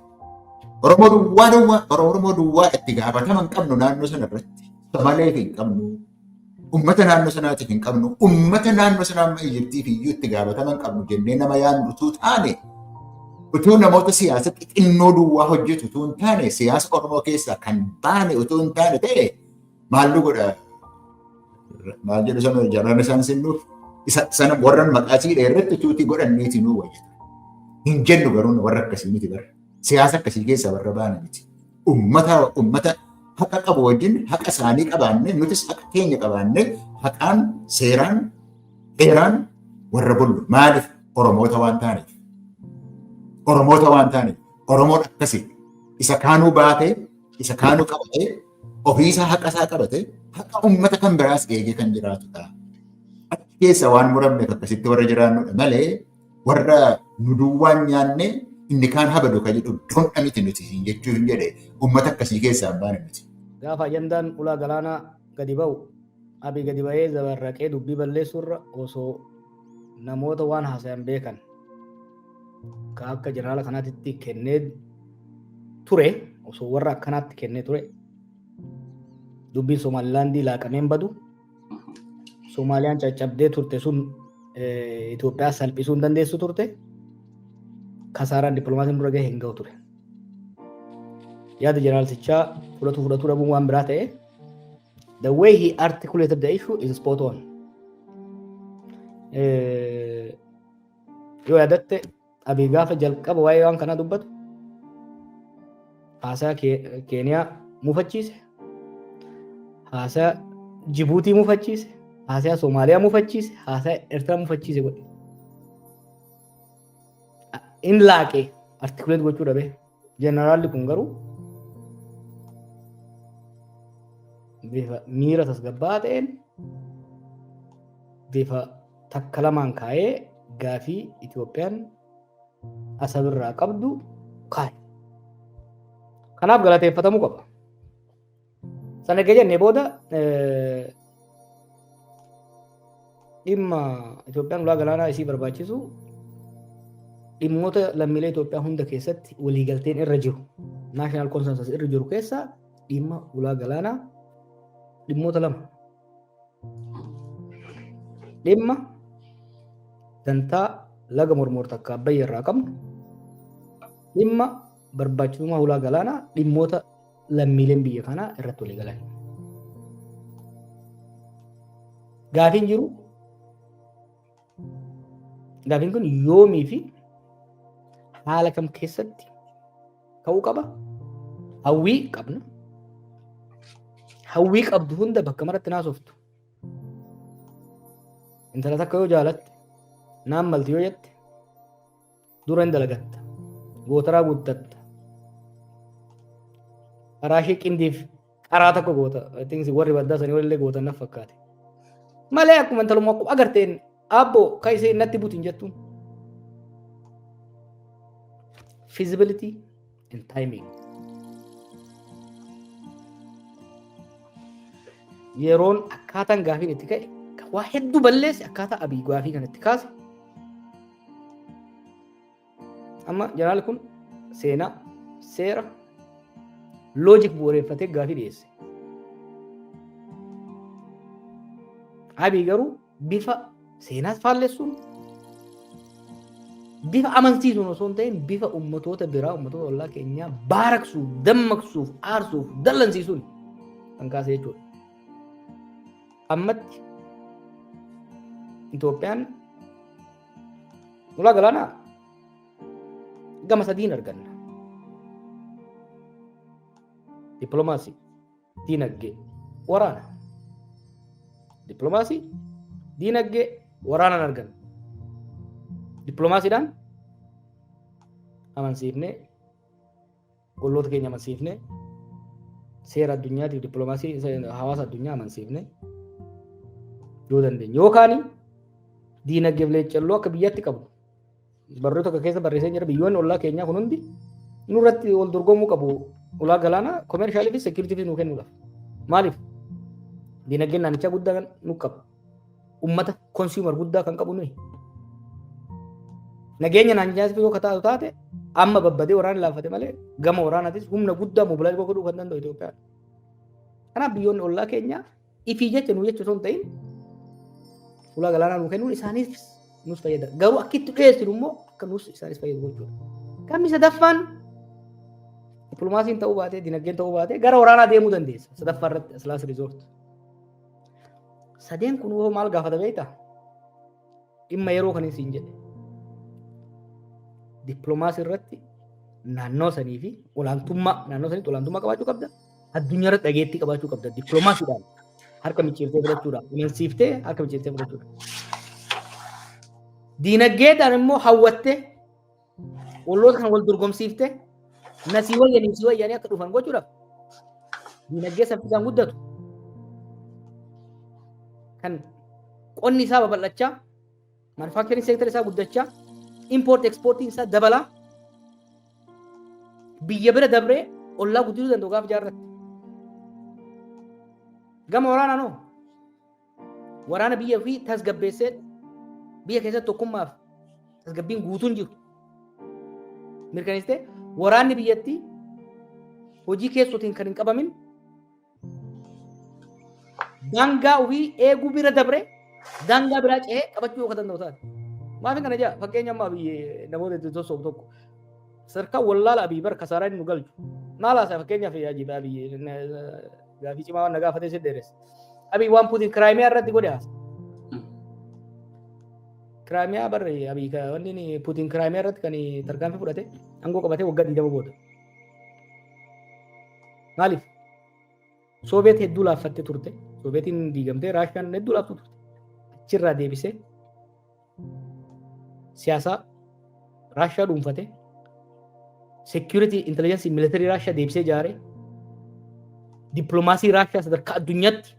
Oromoo duwwaa duwwaa Oromoo duwwaa itti gaafatama hin qabnu naannoo sana irratti. Samalee hin qabnu. Uummata naannoo sanaatiif hin qabnu. Uummata naannoo sanaa amma Ijiptiif iyyuu itti gaafatama hin qabnu jennee nama yaadnu utuu taane utuu namoota siyaasa xixinnoo duwwaa hojjetu utuu hin taane siyaasa Oromoo keessaa kan baane utuu hin taane ta'e maallu godha maal jedhu sana jaraan isaan sinnuuf isa sana warran maqaa siidha irratti tuutii godhanneeti nuu wayya. Hin jennu garuu warra akkasii miti bara. Siyaasa akkasii keessaa warra baana miti. Ummata ummata haqa qabu wajjin haqa isaanii qabaannee nutis haqa keenya qabaannee haqaan seeraan heeraan warra bullu maaliif Oromoota waan taaneef. Oromoota waan taaneef. Oromoon akkasii isa kaanuu baatee isa kaanuu qabatee ofiisaa haqa isaa qabatee haqa ummata kan biraas eegee kan jiraatudha. Achi keessa waan muramneef akkasitti warra jiraannudha malee Warra nu duwwaan nyaannee inni kaan habadu kan jedhu dondha miti nuti siin jechuu hin jedhe uummata akkasii keessaa hin baane nuti. Gaafa ajandaan ulaa galaanaa gadi ba'u abi gadi ba'ee zabarraqee dubbii balleessuurra osoo namoota waan haasayan beekan ka akka jeneraala kanaatitti kennee ture osoo warra akkanaatti kennee ture dubbiin Somaalilaandii laaqameen badu Soomaaliyaan caccabdee turte sun Itoophiyaa salphisuu hin dandeessu turte. Kasaaraan dippiloomaasiin dura gahe hin gahu ture. Yaada jeneraalsichaa fudhatu fudhatu dhabuun waan biraa ta'e. The way he articulated the issue is spot on. Yoo yaadatte Abiy gaafa jalqaba waa'ee waan kanaa dubbatu haasaa Keeniyaa mufachiise, haasaa Jibuutii mufachiise, haasaa Soomaaliyaa mufachiise, haasaa Eertiraa mufachiise godhe. In laaqee artikuleet gochuu dhabee. Jeneraalli kun garuu bifa miira tasgabbaa'aa ta'een bifa takka lamaan kaa'ee gaafii Itoophiyaan asabirraa qabdu kaa'e. Kanaaf galateeffatamuu qaba. Sana erga jennee booda dhimma Itoophiyaan ulaa galaanaa isii barbaachisu dhimmoota lammiilee Itoophiyaa hunda keessatti waliigalteen irra jiru naashinaal konsensus irra jiru keessaa dhimma ulaa galaanaa dhimmoota lama dhimma dantaa laga mormoor takka abbayya irraa qabnu dhimma barbaachisummaa ulaa galaanaa dhimmoota lammiileen biyya kanaa irratti walii galan. Gaafiin jiru gaafiin kun yoomii fi haala kam keessatti ka'uu qaba? Hawwii qabna. Hawwii qabdu hunda bakka maratti naasoftu. Intala takka yoo jaalatte, naan malti yoo jette, Dura hin dalagatta. Gootaraa guuttatta. Karaa ishee qindiif qaraa tokko goota. I think warri baddaa sanii walillee gootan naf fakkaate. Malee akkuma intalumma akkuma agarteen abbo ka ishee natti butin jettuun. Feasibility and timing. Yeroon akkaataan gaafiin itti ka'e kan waa hedduu balleesse akkaataa abii gaafii kan itti kaase. Amma jeneraal kun seenaa, seera, loojik bu'uureffatee gaafii dhiyeesse. Abii garuu bifa seenaas faallessuun bifa amansiisuun osoo hin ta'in bifa ummatoota biraa ummatoota ollaa keenyaa baaraksuuf dammaqsuuf aarsuuf dallansiisuun kan kaase jechuudha. Ammatti Itoophiyaan ulaa galaanaa gama sadiin arganna. Dippiloomaasii. Diinagdee, waraana. Dippiloomaasii, diinagdee, waraanaan arganne. Dippiloomaasiidhaan amansiifnee, olloota keenya amansiifnee, seera addunyaatiif dippiloomaasii hawaasa addunyaa amansiifnee yoo dandeenye. Yookaan diinagdeef leeccalloo akka biyyaatti qabnu Barruu tokko keessa barreessee jira biyyoonni ollaa keenyaa kun hundi nurratti wal dorgomuu qabu ulaa galaanaa koomershaalii fi seekiritiifi nuu kennuudhaaf. Maaliif? Dinagdeen naannichaa guddaa kan nu qabu. Uummata konsuumar guddaa kan qabu nuyi. Nageenya naannichaas yoo kataatu taate amma babbadee waraana laaffate malee gama waraanaatis humna guddaa mobilaayiz godhuu kan danda'u Itoophiyaan. Kanaaf biyyoonni ollaa keenyaa ifii jecha nuu jecha osoo hin ta'in ulaa galaanaa nuu kennuun isaaniif nus fayyada. Garuu akka itti dhiyeessinu immoo akka nus isaanis fayyadu gochuudha. Kammi sadaffaan dippiloomaasiin ta'uu baatee dinagdeen ta'uu baatee gara waraanaa deemuu dandeessa. Sadaffaa irratti asilaas riizoort. Sadeen kun hoo maal gaafata beektaa? Dhimma yeroo kan isin jedhe. Dippiloomaasii irratti naannoo sanii fi olaantummaa naannoo saniitti olaantummaa qabaachuu qabda. addunyaa irratti dhageettii qabaachuu qabda dippiloomaasiidhaan harka micciirtee fudhachuudhaan amansiiftee harka micciirtee fudhachuudhaan. Diinagdeedhaan immoo hawwattee olloota kana wal dorgomsiiftee nasii wayyanii si wayyanii akka dhufan gochuudhaaf diinagdee saffisaan guddatu kan qonni isaa babal'achaa Manufacturing sector isaa guddachaa, import exportiin isaa dabalaa, biyya bira dabree ollaa guddisuu danda'u gaafa jaarratti. Gama waraanaan hoo? Waraana biyya ofii tasgabbeessee biyya keessatti tokkummaaf tasgabbiin guutuun jiru. Mirkaneessitee waraanni biyyattii hojii keessootiin kan hin qabamin Daangaa ofii eeguu bira dabree daangaa biraa ce'ee qabachuu akka danda'u taate. Maafin kana jaa fakkeenya amma abiyyi namoota itti sossoobu tokko sadarkaa wallaala abiyyi bara kasaaraa inni nu galchu. Maal haasaa fakkeenyaaf yaa jiba abiyyi gaafii cimaa waan na gaafatee si dheeressa. Abiyyi waan Puutiin kiraayimiyaa irratti godhe haasa. Kiraayimiyaa barre abiyyi wanni Puutiin kiraayimiyaa irratti kan tarkaanfii fudhate aangoo qabatee waggaa 20 booda. Maaliif? Sooviyeet hedduu laaffattee turte. Sooviyeetiin diigamtee Raashiyaan hedduu laaftuu turte. Achirraa deebisee siyaasa Raashiyaa dhuunfate. Seekiyuritii intelligensii militarii Raashiyaa deebisee ijaare. Dippiloomaasii Raashiyaa sadarkaa addunyaatti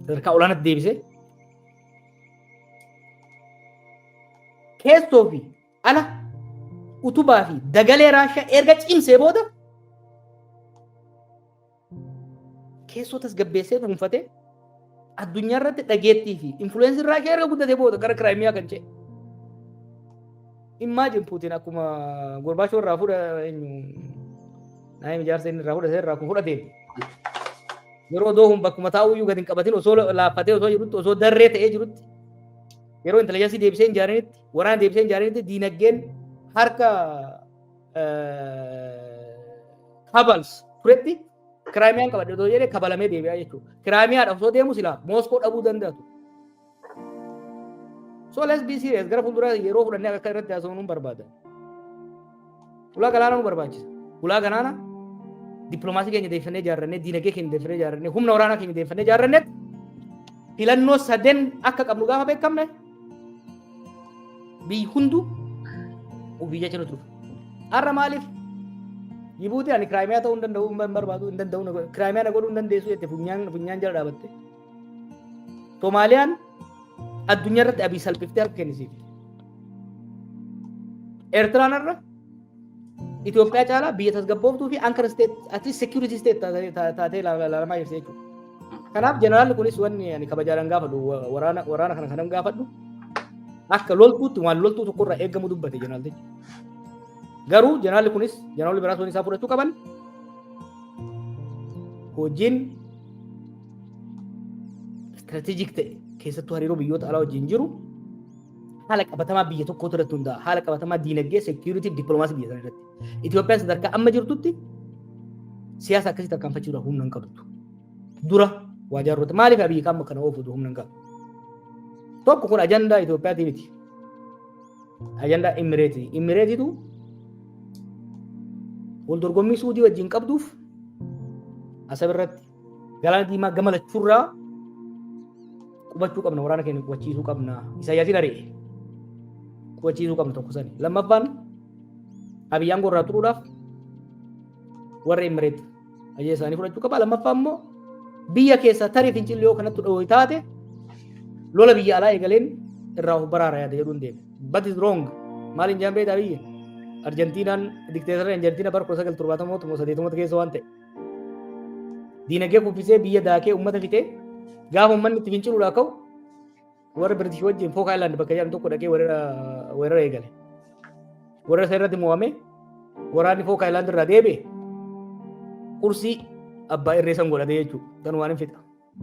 sadarkaa olaanaatti deebisee keessoo fi ala utubaa fi dagalee Raashiyaa erga cimsee booda keessoo tasgabbeessee dhuunfatee addunyaa irratti dhageettii fi influensiin Raashiyaa erga guddatee booda gara Kiraayimiyaa kan ce'e. Immaajin Puutiin akkuma Gorbaachoo irraa fuudha eenyu naayim ijaarsa inni irraa fudhate irraa kun fudhateen yeroo doohuun bakkuma taa'uyyuu gadi hin qabatin osoo laaffatee osoo jirutti osoo darree ta'ee jirutti yeroo intelijansii deebisee hin jaarinitti Waraana deebisee hin ijaaranitti diinagdeen harka kabals turetti kiraamiyaan qabadhe otoo jedhee kabalamee deebi'aa jechuudha. Kiraamiyaadha osoo deemu silaa Mooskoo dhabuu danda'atu. So let's be serious gara fuulduraa yeroo fudhannee akka irratti haasofnu barbaada. Ulaa galaanaa nu barbaachisa. Ulaa galaanaa dippiloomaasii keenya deeffannee ijaarrannee, diinagdee keenya deeffannee ijaarrannee, humna waraanaa keenya deeffannee ijaarrannetti filannoo saden akka qabnu gaafa beekamne biyyi hunduu ofii jecha nuti dhufu. Har'a maaliif Jibuutiin ani kiraayimiyaa ta'uu hin danda'u hin barbaadu hin danda'u kiraayimiyaa na godhuu hin dandeessu jette funyaan funyaan jala dhaabatte. Somaaliyaan addunyaa irratti abii salphiftee harka kennisiif. Eertiraan irra Itoophiyaa caalaa biyya tasgabbooftuu fi ankara isteet ati seekiyuritii isteet taatee ilaalamaa jirti jechuudha. Kanaaf jeneraalli kunis wanni ani kabajaadhaan gaafadhu waraana waraana kana kanan gaafadhu akka loltuutti waan loltuu tokkorraa eegamu dubbate jeneraaltichi. Garuu jeneraalli kunis jeneraalli biraas waan isaa fudhachuu qaban hojiin istirateejik ta'e keessattuu hariiroo biyyoota alaa wajjin jiru haala qabatamaa biyya tokkoo irratti hundaa'a. Haala qabatamaa diinagdee, seekiyuritii, dippiloomaasii biyya sana irratti. Itoophiyaan sadarkaa amma jirtutti siyaasa akkasii tarkaanfachuudhaaf humna hin qabdu. Dura waa jaarrota maaliif abiyyi qaama kana oofutu humna hin qabu? Tokko kun ajandaa Itoophiyaatii miti. Ajandaa Imireetii. Imireetiitu wal dorgommii suudii wajjin qabduuf asab irratti Galaana diimaa gama lachuurraa qubachuu qabna waraana keenya qubachiisuu qabna isaayyaasiin ari'e qubachiisuu qabna tokko sani lammaffaan abiy aangoo irraa turuudhaaf warra imireet ajee isaanii fudhachuu qaba lammaffaa immoo biyya keessaa tarii fincilli yoo kanatti dhoohi taate lola biyya alaa eegaleen irraa of baraara yaada jedhuun deeme but is wrong maaliin jaan beektaa biyya arjentiinaan dikteetarri arjentiina bara 1970 keessa waan ta'e Diinagdee kuffisee biyya daakee uummata fixee gaafa uummanni itti finciluudhaa ka'u warra Biritish wajjin Fook Aayilaand bakka jedhamu tokko dhaqee weerara eegale. Weerara isa irratti mo'ame waraanni Fook Aayilaand irraa deebi'e kursii abbaa irree san godhate jechuudha. Kan waan hin fixa.